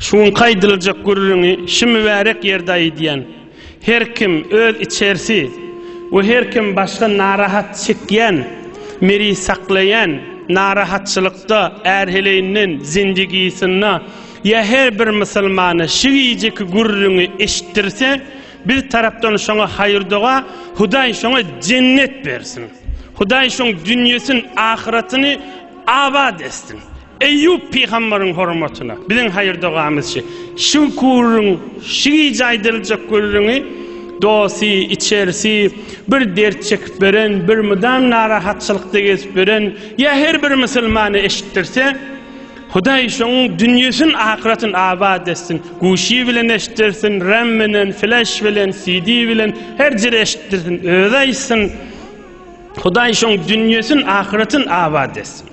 Şu günki aýdyljak gürrüňi şu mübärek ýerde aýdýan. Her kim öz içersi we her kim başga narahat çekýän, miri saklaýan narahatçylykda ärheleýinden zindigisynda ýa her bir musulmana şu gijeki gürrüňi eşitdirse, biz tarapdan şoňa haýyrdoga, Hudaý şoňa jennet bersin. Hudaý şoň dünýesin ahyratyny abat etsin. Eýýup pygamberiň hormatyna biziň haýyr-dogamyz şi. Şu gürrüň, şu gije aýdyljak gürrüňi dosy, içerisi bir dert çekip ýören, bir mydam narahatçylykda gezip ýören ýa her bir musulmana eşitdirse, Hudaý şoň dünýesin, ahyratyn abat etsin. Guşy bilen eşitdirsin, ram bilen, flaş bilen, CD bilen, her jere eşitdirsin, özi aýtsyn. Hudaý şoň dünýesin, ahyratyn abat etsin.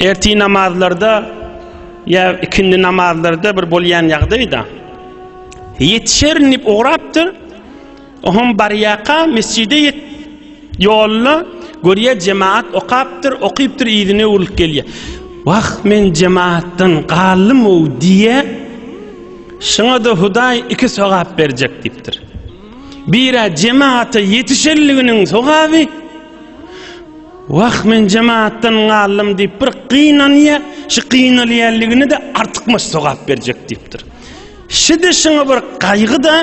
Erti namazlarda ýa ikindi namazlarda bir bolýan ýagdaýda ýetişerin diýip ugrapdyr. Oňam barýaka mesjide ýet ýoluna görýä jemaat okapdyr, okypdyr ýerine urlup gelýär. Wah men jemaatdan galdym o diýe. Şuňa da Hudaý iki sogap berjek diýipdir. Bira jemaata ýetişenliginiň sogaby, Wah men jemaatdan galdym diýip bir gynanýar, şu gynalýanligini-de artykmaç sogap berjek diýipdir. Şidi şuňa bir gaýgy-da,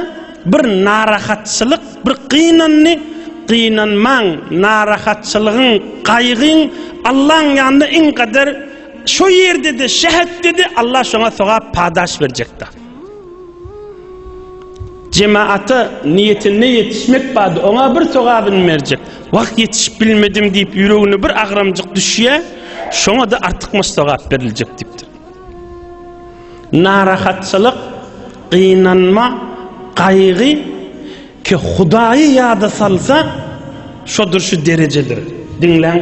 bir narahatçylyk, bir gynandy, gynanmaň, narahatçylygyň, gaýgyň Allaň ýanynda iň gadyr, şo ýerde-de, şähetde-de Allah şoňa sogap padaş berjekdir. Jemagata niýetinde ýetişmek bady oňa bir sogabyn berjek. Wah, ýetişip bilmedim diýip, ýüregine bir agramjyk düşýär, şoňa-da artykmaç sogap beriljek diýipdir. Narahatçylyk, gynanma, gaýgy ki Hudaýy ýada salsa, şodur şu derejedir. Diňläň.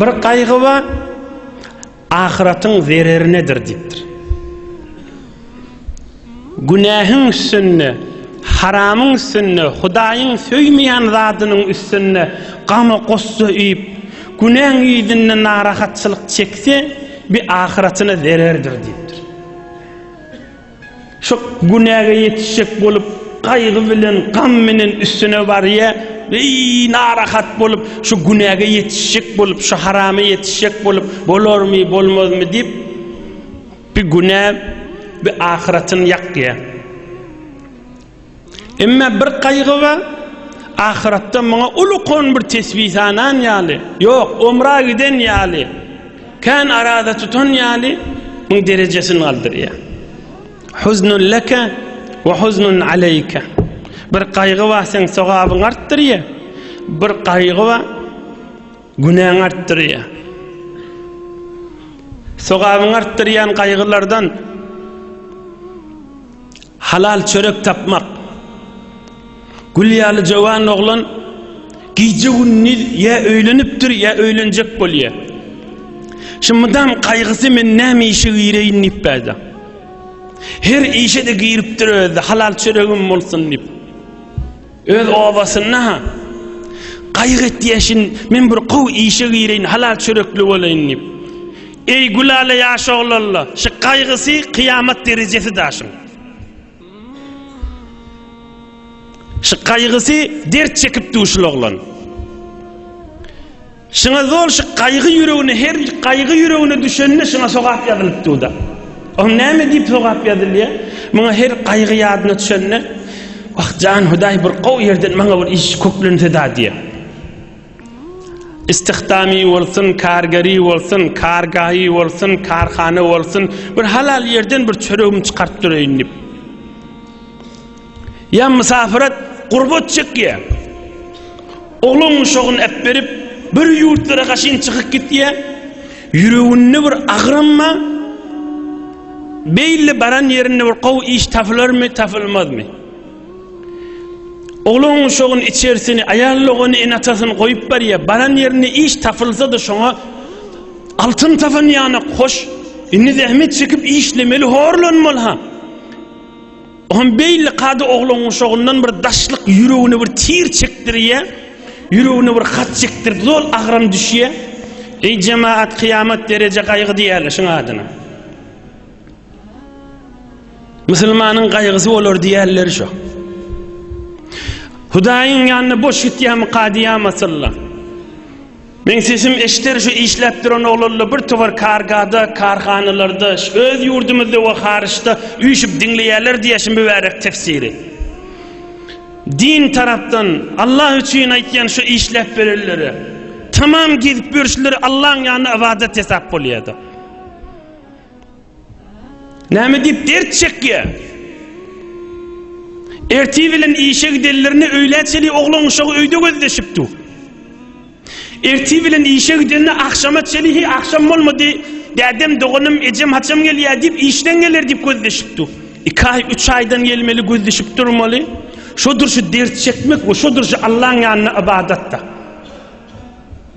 Bir gaýgy bar, ahyratyň zererinedir diýipdir. Günähiň üstünde, haramyň üstünde, Hudaýyň söýmeýän zadynyň üstünde gama-gussa üýüp, günäň ýüzünde narahatçylyk çekse, bi ahyratyna zererdir diýipdir. Şu günäge ýetişjek bolup, gaýgy bilen, gam bilen üstüne barýar. Eý, narahat bolup, şu günäge ýetişjek bolup, şu harama ýetişjek bolup, bolarmy, bolmazmy diýip, bi günä, bi ahyratyny ýakýar. Emma bir gaýgy bar, ahyratda muňa ulukon bir tesbi sanan ýaly, ýok, omra giden ýaly, kän araza tutan ýaly muň derejesini galdyrýar. Huznun leke we huznun aleýke. Bir gaýgy bar, seň sogabyňy artdyrýar, bir gaýgy bar, günäňi artdyrýar. Sogabyňy artdyrýan gaýgylardan Halal çörek tapmak. Gül ýaly jowan oglan gije-gündiz ýa öýlenipdir, ýa öýlenjek bolýar. Şu mydam gaýgysy men näme işe gireýin diýip bäda. Her işe-de giripdir özi-de, halal çöregim bolsun diýip. Öz obasynda-ha gaýgy etýäşin, men bir gowy işe gireýin, halal çörekli bolaýyn diýip. Eý, Gülala ýaş oglalla, şu gaýgysy kyýamat derejesi daşyň. Şu gaýgysy dert çekipdi şul oglan. Şyňa zol şy gaýgy ýüregine her gaýgy ýüregine düşende şyňa sogap ýazylyp duda. Oň näme diýip sogap ýazylýa? Muňa her gaýgy ýadyna düşende Wah jan Hudaý bir gowy ýerden maňa bir iş köplense-da diýe. Istihdamy bolsun, kargeri bolsun, kargaýy bolsun, karhana bolsun, bir halal ýerden bir çöregimi çykaryp dureýin diýip. Ýa mysafyrat, gurbat çekýär. Oglan uşagyny äpberip, bir ýurtlara gaşyn çykyp gitýär. Ýüreginde bir agramma, beýle baran ýerinde bir gowy iş tapylarmy, tapylmazmy? Oglan uşagyny içersini, aýal dogany ene-atasyny goýup barýar. Baran ýerinde iş tapylsa-da şoňa altyn tapan ýanak, hoş, indi zähmet çekip işlemeli, horlanmaly-ha. O hem beýle kada oglan guşagyndan bir daşlyk ýüregine bir tir çekdirýär. Ýüregine bir hat çekdirdi, zol agram düşýär. Eý jemaat kyýamat dereje gaýgy diýýärler şuň adyna. Musulmanyň gaýgysy bolar diýýärler şu. Hudaýyň ýanyna boş gitýärmi kadyýam asyllar. Meň sesim eşder şu işläp duran oglanla bir towar kargada, karhanalarda, öz ýurdumyzda we haryçda üýşüp diňleýärler diýýär şu mübärek tefsiri. Din tarapdan, Allah üçin aýtýan şu işläp berenlere. Tamam gezip ýörşleri Allaň ýanynda ybadat hesap bolýada. Näme diýip dert çekýär? Ertir bilen işe gidenlerine öýlä çenli oglan uşagy öýde gözleşip dur. Ertir bilen işe gidende agşama çenli he agşam bolmady. Dädem, doganym, ejem haçam gelýär diýip işden geler diýip gözleşip dur. Iki aý, üç aýdan gelmeli gözleşip durmaly. Şodur şu dert çekmek we şodur şu Allaň ýanyna ybadatda.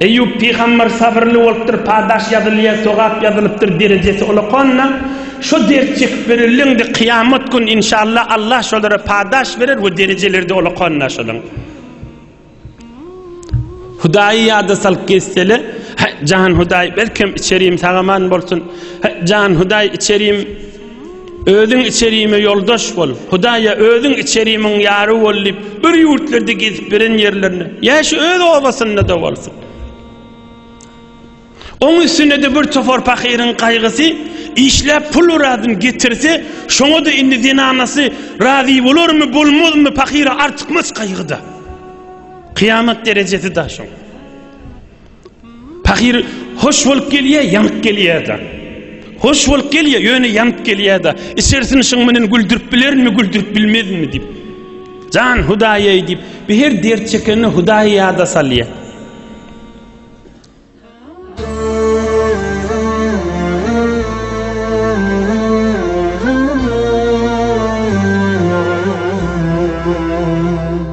Eýýup pygamber sabyrly bolupdyr, padaş ýazylýar, sogap ýazylypdyr, derejesi ulakanna, şo dert çekip ýörenleňde kyýamat gün inşallah Allah şolara padaş berer we derejeleride ulakanna şolaň. Hudaýy ýada salyp gezsele, he jan Hudaý belkem içerim sagaman bolsun, he jan Hudaý içerim Özüň içerime ýoldaş bol, Hudaýa özüň içerimiň ýary bol diýip, bir ýurtlarda gezip beren ýerlerine, ýa şu öz obasynda-da bolsun. Oň üstüne-de bir topar pahyryň gaýgysy, işläp pul razyny getirse, şoňa-da indi zenanasy razy bolarmy, bolmazmy, pahyra artykmaç gaýgy-da. Kyýamat derejesi-da şoň. Pahyr hoş bolup gelýä, ýanyp gelýä-de. Hoş bolup gelýä, ýöne ýanyp gelýä-de. Içersini şuň menen güldürip bilerinmi, güldürip bilmezinmi diýip. Jan Hudaýaý diýip, bi her dert çekende Hudaýy ýada salýa.